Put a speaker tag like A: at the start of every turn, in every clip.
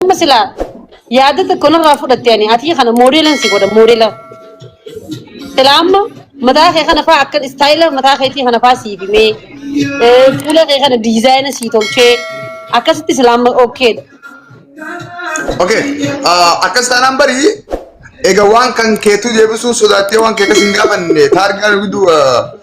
A: Amma silaa yaada tokko narraa fudhatte ani atii kana moodeelan si godha moodeela. Silaa amma mataa kee kana faa akka istaayila mataa keetii kana faa sii bimee eh, fuula kee kana diizaayina sii tolchee akkasitti silaa amma okkeedha. Okay.
B: ah, Akkas taanaan bari egaa waan kan keetu deebisuu sodaattee waan kee akkas hin gaafanne taargaan gidduu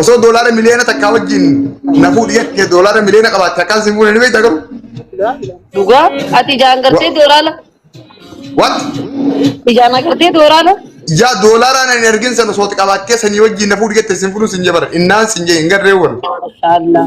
B: Osoo doolaara miliyoona takkaa wajjin na fuudhi jettee doolaara miliyoona qabaatte akkaan si fuudhe ni beektaa garuu.
A: Dhugaa ati ijaan gartee dooraala. What?
B: Ijaan
A: agartee dooraala. Yaa doolaaraan
B: ani ergin sana osoo qabaattee sanii wajjin na fuudhi jettee sin fuudhu sin jebara. Innaan sin jee hin garree wal. Mashallah.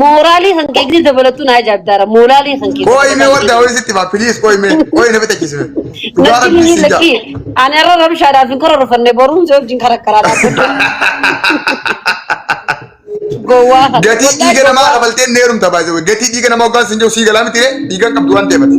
B: Mooraalii
A: kan keekni dabalattuu naa jaabdaara. Mooraalii kan keekni. Qoy mee wadda wani sitti
B: maa please qoy mee qoy na fita kisime. Dhugaa Natti rabbi himi si
A: lakki. jaa. Ani irra rabshaadhaaf hin kororofanne boruun si wajjin karakkaraa dhaabbadde. Gowwaa kana. Gatii Wallahi dhiiga
B: namaa gowwaa. kabaltee neerumta baay'ee gatii dhiiga namaa hoggaan sin jiru sii galaa miti ree dhiiga qabdu waan deemati.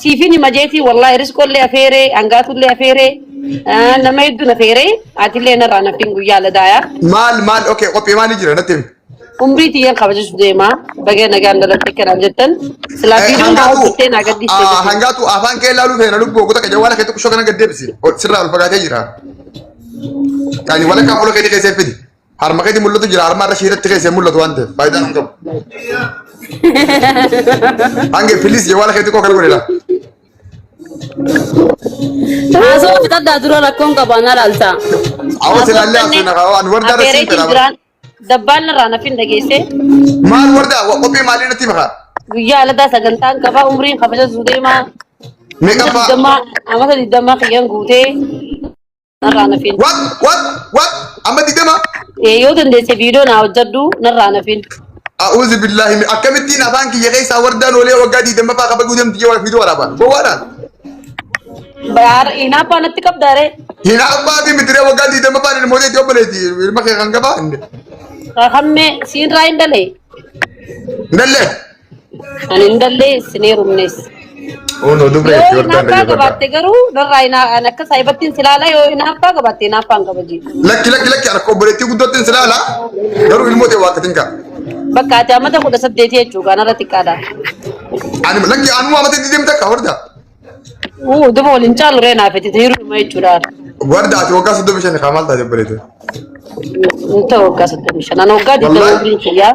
B: Siifin hima jeetii
A: wallaahi risqollee afeeree hangaatullee afeeree ah, nama hedduun afeeree atillee narraa naffiin guyyaa ladaayaa Maal maal okay
B: qophii maalii jira natti himi. umrii tiyyaan
A: kabajachuu deemaa baga nagaan dhalatte kanaaf jettan silaa Eh, viidiyoon naa Hangaatu hojjettee naa ah, gadhiistee hangaatu afaan kee
B: ilaaluu feena lubbuu oggota kee jawwaala keetti kushoo kana gad deebisi. Ol- Sirraa ol fagaatee jira. Yaani walakkaa fuula keetii keessee fidi. Harma keetti mul'atu jira harma irra shiirratti keessa hin mul'atu waan ta'eef faayidaan hin qabu. Hange pilis jawwaala keetti koo kana godhedha.
A: Haasoo fixadhaa dura rakkoon qaba na laalta. Awwa silaallee
B: haasoo na kaawaa nu wardaa irra siin fedha. jiraan dabbaan irraa
A: nafin dhageesse Maal
B: wardaa qophii maalii natti makaa? guyyaa aladaa
A: sagantaan qabaa umriin kabaja zuudeemaa Meeqa amata
B: fa'aa? digdamaa amata digdamaa
A: kiyyan guutee narraa nafiin. Wat wat wat
B: amma digdama Eh, Yoo dandeesse
A: viidiyoo naa hojjedhu narraa nafiin. a'uuzi billaahi
B: mi- akkamittiin afaan kiyya keessaa wardaan oolee waggaa digdammaffaa kabajuu deemti jee warafiitu waraaba gowwaadhaan
A: Baar inaaffaa natti qabdaaree. hin abbaa fi
B: mitiree waggaa digdammaffaan ilmoo jeetti obboleetti ilma kee kan gabaa hin Hammee
A: siinraa hin dalee.
B: dallee
A: Kan hin dallee isin heerumnes. Uno
B: dubre Yoo Jordan hinaaffaa Rajabata. qabaatte garuu
A: narraa hinaa an akka saayibattiin silaalaa yoo hinaaffaa qabaatte hinaaffaa hin kabaji. Lakki lakki lakki harka
B: obboleettii guddootti hin silaala garuu ilmoo ta'e waaqatiin kaa. Bakka ati
A: amata kudha saddeetii jechuudha kanarra xiqqaadha. Ani
B: lakki anuma amata itti deemte akka horda. Uu
A: duba waliin caalu ree naaf itti hiruma jechuudha. Warda ati waggaa
B: soddoma shan kaa maal taate obboleettii.
A: Inta waggaa soddomii shan. Ana waggaa digdama Wallahi. umriin kiyyaa.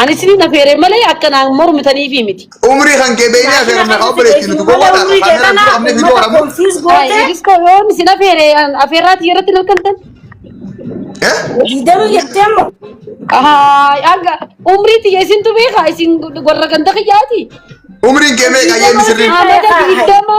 A: Ani isinii na feeree malee akka naan mormitaniifi miti. Umrii kan kee beeknee
B: afeera meeqa obboleetti nuti gowwaadha kan kaamera dura qabnee viidiyoo waraabnu. Ay, Iris koo yoon
A: isin afeere afeerraati irratti hin argamtan. Eh? Diidamii
C: jettee amma. Ay,
A: hanga umrii tiyya isintu beeka isin warra ganda kiyyaati. Umriin kee
B: meeqa ayyee misirriin? Amata digdama.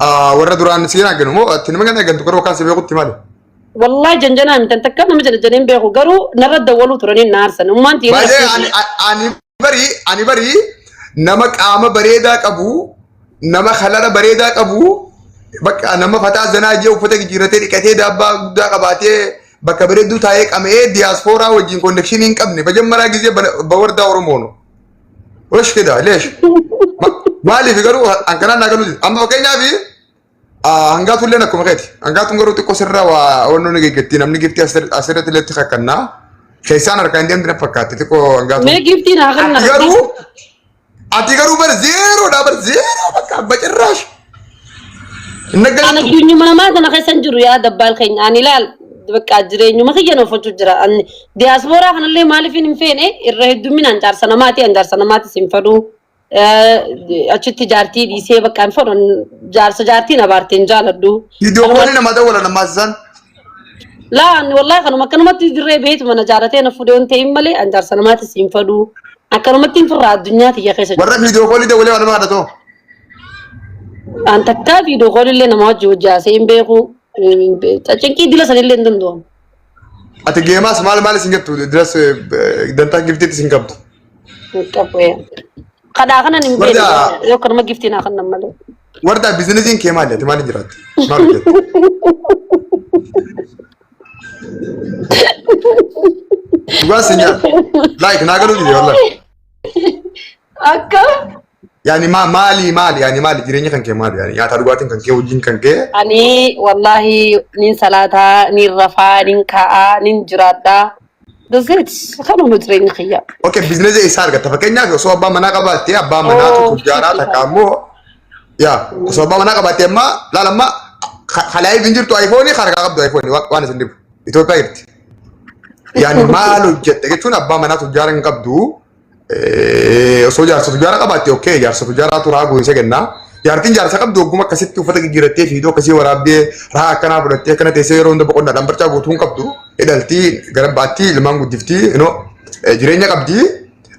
B: Ah, warra duraan si hin arginu moo ati nama kana argantu garuu akkaan si beekutti maali? Wallahi janjanaa
A: mitan takka nama janjaneen beeku garuu narra dawwaluu turanii na aarsan. Ummaan tiina Baay'ee ani-
B: ani- ani barii ani barii nama qaama bareedaa qabu nama halara bareedaa qabu bakka nama fataa zanaa jee uffata jijjiirratee dhiqatee daabbaa guddaa qabaatee bakka bareedduu taa'ee qama'ee diyaaspooraa wajjin konnekshinii hin qabne bajammaraa gizee bawardaa oromoonu. Wash kida leesh. Maaliif garuu hankanaan naa galuuti. Amma fakkeenyaaf hangaatu illee akkuma keeti. Hangaatuun garuu xiqqoo sirra waa onnoo ni geggetti namni giftii asirratti illee xiqqaa kannaa. Keessaan harkaa hin deemti na fakkaatti xiqqoo hangaatu. Mee giftiin haa kenna. Ati
A: garuu
B: ati garuu bar zeeroodha bar zeeroo bakka abba cirraash.
A: Hin An dhaggeeffattu? addunyuma namaa sana keessa hin jiru yaa dabbaal keenya. Ani ilaal bakka jireenyuma kiyyan oofachuu jira. Ani diyaaspooraa kanallee maaliif hin feene irra hedduminaan jaarsa namaati. An jaarsa namaati sin fadhu. Achitti jaartii dhiisee bakka hin fadhu. Jaarsa jaartiin abaarte hin jaaladhu. Viidiyoowwan nama
B: dawwala namaa isaan. Laa
A: ani wallaahi kanuma akkanumatti dirree beetu mana jaaratee na fuudhee hin ta'in malee an jaarsa namaati sin fadhu. Akkanumatti hin firraa addunyaa tiyya keessa jiru. Warra viidiyoo koolii dawwalee
B: waan nama adda ta'u.
A: An takkaa fi dokoon illee nama wajji hojjaasee hin beeku. Cinqii dila san illee hin danda'amu. Ati
B: geemaas maal maal isin jettu diras dantaa giftiitti isin qabdu. Qabbee.
A: Kadhaa kanan hin beeku. Wardaa. Yoo kanuma giftii naa kannan malee. Wardaa biizinasiin
B: kee maali ati maaliin jiraatte? Maal hojjette? Dhugaa si nyaata. Laayik naa galuu dide wallaan. Akka
A: Yaani maa
B: maali maali yaani maali jireenya kan kee maali yaani nyaataa dhugaatiin kan kee hojiin kan kee Ani wallahi
A: nin salaataa, nin rafaa, nin ka'aa, nin jiraadhaa. That's it. Kanuma jireenya kiyya. okay biizinasii eessaa
B: argatta fakkeenyaaf osoo abbaa manaa qabaattee abbaa manaa Oh, tokko ijaaraa shit, takka ammoo yaa osoo abbaa manaa qabaattee ammaa laala ammaa halaayif hin jirtu ayfoonii harkaa qabdu ayfoonii waan isin dhibu Itoophiyaa jirti yaani maal hojjette jechuun abbaa manaa tokko ijaaraa hin qabdu Eh, osoo jaarsa tujaaraa qabaatte okkee jaarsa tujaaraa turaa goonsa kennaa. Jaartiin jaarsa qabdu ogguma akkasitti uffata gigirattee fiidoo akkasii waraabdee raa akkanaa fudhattee akkana teessee yeroo hunda boqonnaa dhambarchaa guutuun qabdu hidhaltii gara baattii ilmaan guddiftii inoo eh, jireenya qabdi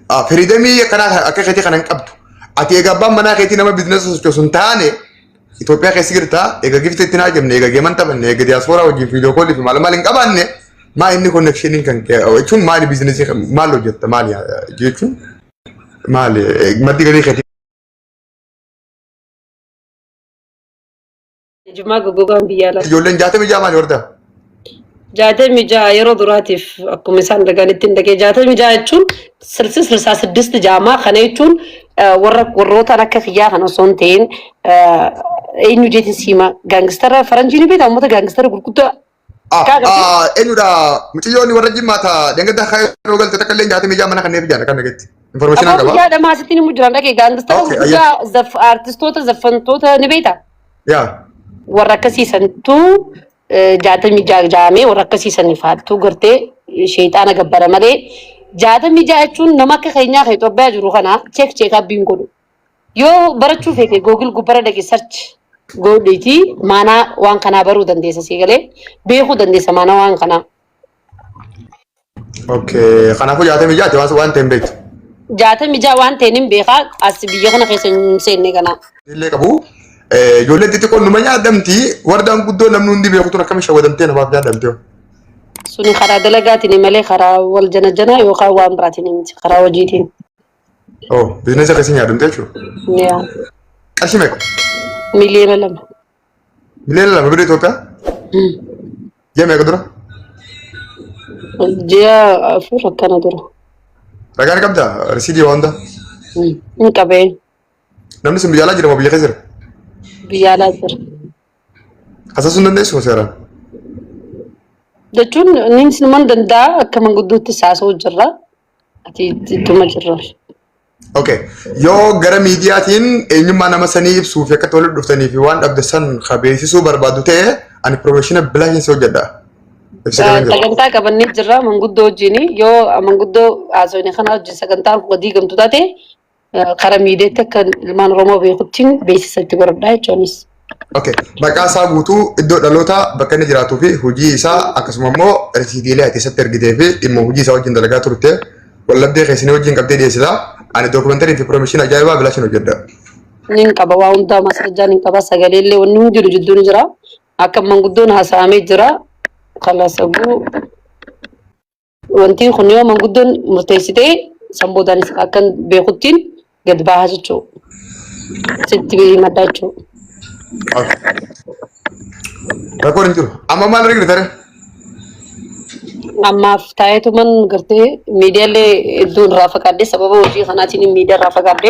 B: Ah, firiidamii akkanaa akka keetii kana hin qabdu. Ati egaa abbaan manaa keetii nama biizinasa sochoosu hin taane Itoophiyaa keessa jirta eega gifti itti naa jemne eega geeman taphanne eega diyaaspooraa wajjin viidiyoo koolii fi maal maal hin qabaanne maa inni konneekshiniin kan kee jechuun maali biizinesii maal hojjetta maali jechuun maali maddi galii keetii Jimmaa goggogaan
A: biyya alaa. ijoolleen jaatamii jaamaali
B: horta. jaatamii
A: ja'a yeroo duraatiif akkuma isaan dhaganitti hin dhagee jaatamii ja'a jechuun sirsi sirsaa siddisti jaamaa kana jechuun warra warrootaan akka kiyyaa kan osoo hin ta'in eenyu jeetiin siima gaangistara faranjii ni beektaa uummata gaangistara gurguddaa
B: Eenyudha mucayyoonni warra jimmaata dangadda akka yeroo galte takka illee jaatamii ja'a mana kanneen fi jaata kan dhageetti. Informeeshinaa qaba. Yaa dhamaa asitti ni mujjiran dhagee
A: gaangistara gurguddaa artistoota zaffantoota ni beektaa. Yaa.
B: warra akkasii
A: santu jaatamii ja'a jaamee warra akkasii saniif haaltuu gartee sheexaana gabbara malee jaatamii ja'a jechuun nama akka keenyaa kan Itoophiyaa jiru kana cheek cheek abbiin godhu. Yoo barachuu feete googil gubbara dhaqi sarchi godhiiti maanaa waan kanaa baruu dandeessa sii galee beekuu dandeessa maanaa waan kanaa.
B: Okay. Kanaafuu jaatamii jaati waan waan ta'e hin beektu. Jaatamii
A: ja'a waan ta'een hin beekaa as biyya kana keessa hin seenne kanaa. Illee qabu.
B: Eh, Ijoolleen xixiqqoon numa nyaadamti. Wardaan guddoo namni hundi beeku tun akkamiin shawwadamtee namaaf nyaadamtee? Suni
A: karaa dalagaatiin malee karaa wal janajanaa yookaan waan biraatiin miti karaa hojiitiin. Oh,
B: biizinesa keessa nyaadamtee jechuudha. Yaa
A: Qarshii
B: meeqa? miliyoona
A: lama. Miliyoona lama birrii Itoophiyaa
B: ji'a meeqa dura?
A: Ji'a afur akkana dura. Ragaa ni
B: qabdaa? Risiidii waa hundaa? Ni
A: qabee.
B: Namni sun biyya alaa jira moo biyya keessa jira? Biyya alaa jira. Hasaasuu hin dandeessu seeraan.
A: Jechuun inni sinuman danda'a akka mangudduutti saasoo jirra. Ati itti tuma jirra.
B: Okay. Yoo gara miidiyaatiin eenyummaa nama sanii ibsuu fi akka itti walitti dhuftanii fi waan dhabde san ka beeksisuu barbaadu ta'e ani pirofeeshina bilaatiin si hojjedha. Ibsa kana jiru.
A: Sagantaa qabannee jirra manguddoo wajjin yoo manguddoo haasofne kana wajjin sagantaan kun diigamtu taate kara miidiyaatti akka ilmaan Oromoo beekuttiin beeksisa itti godhadhaa jechuunis. Okay.
B: Maqaa isaa guutuu iddoo dhalootaa bakka inni jiraatuu fi hojii isaa akkasuma immoo risiitiilee ati isatti ergitee fi dhimma hojii isaa wajjin dalagaa turte wallabdee keessanii wajjin qabdee dhiyeessita. Ani dookumantarii fi piroomishiin ajaa'ibaa bilaashin hojjedha. Nin qaba
A: waa hundaa masarjaa nin qaba sagalee illee wanni hundi jiru jidduu ni jira. Akka manguddoon haasa'amee jira. Kalasaguu Wantiin kun yoo manguddoon murteessite san boodaan akkan beekuttiin gad bahaa jechuudha. Sitti himadhaa jechuudha.
B: Rakkoon hin jiru. Amma maal argina tare?
A: Ammaaf taa'eetuman gartee miidiyaalee hedduun irraa fagaadde sababa hojii kanaatiin miidiyaa irraa fagaadde.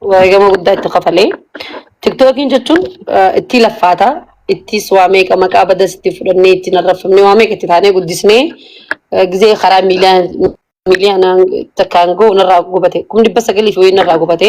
A: wareegama guddaa itti kafalee. Tiktookiin jechuun eh, ittii laffaata. Ittis waa meeqa maqaa badas itti fudhannee ittiin arrabsamnee waa meeqa itti taanee guddisnee eh, gizee karaa miiliyaan miiliyaanaan takkaan ga'u narraa gubate. Kum dhibba sagalii fi wayii narraa gubate.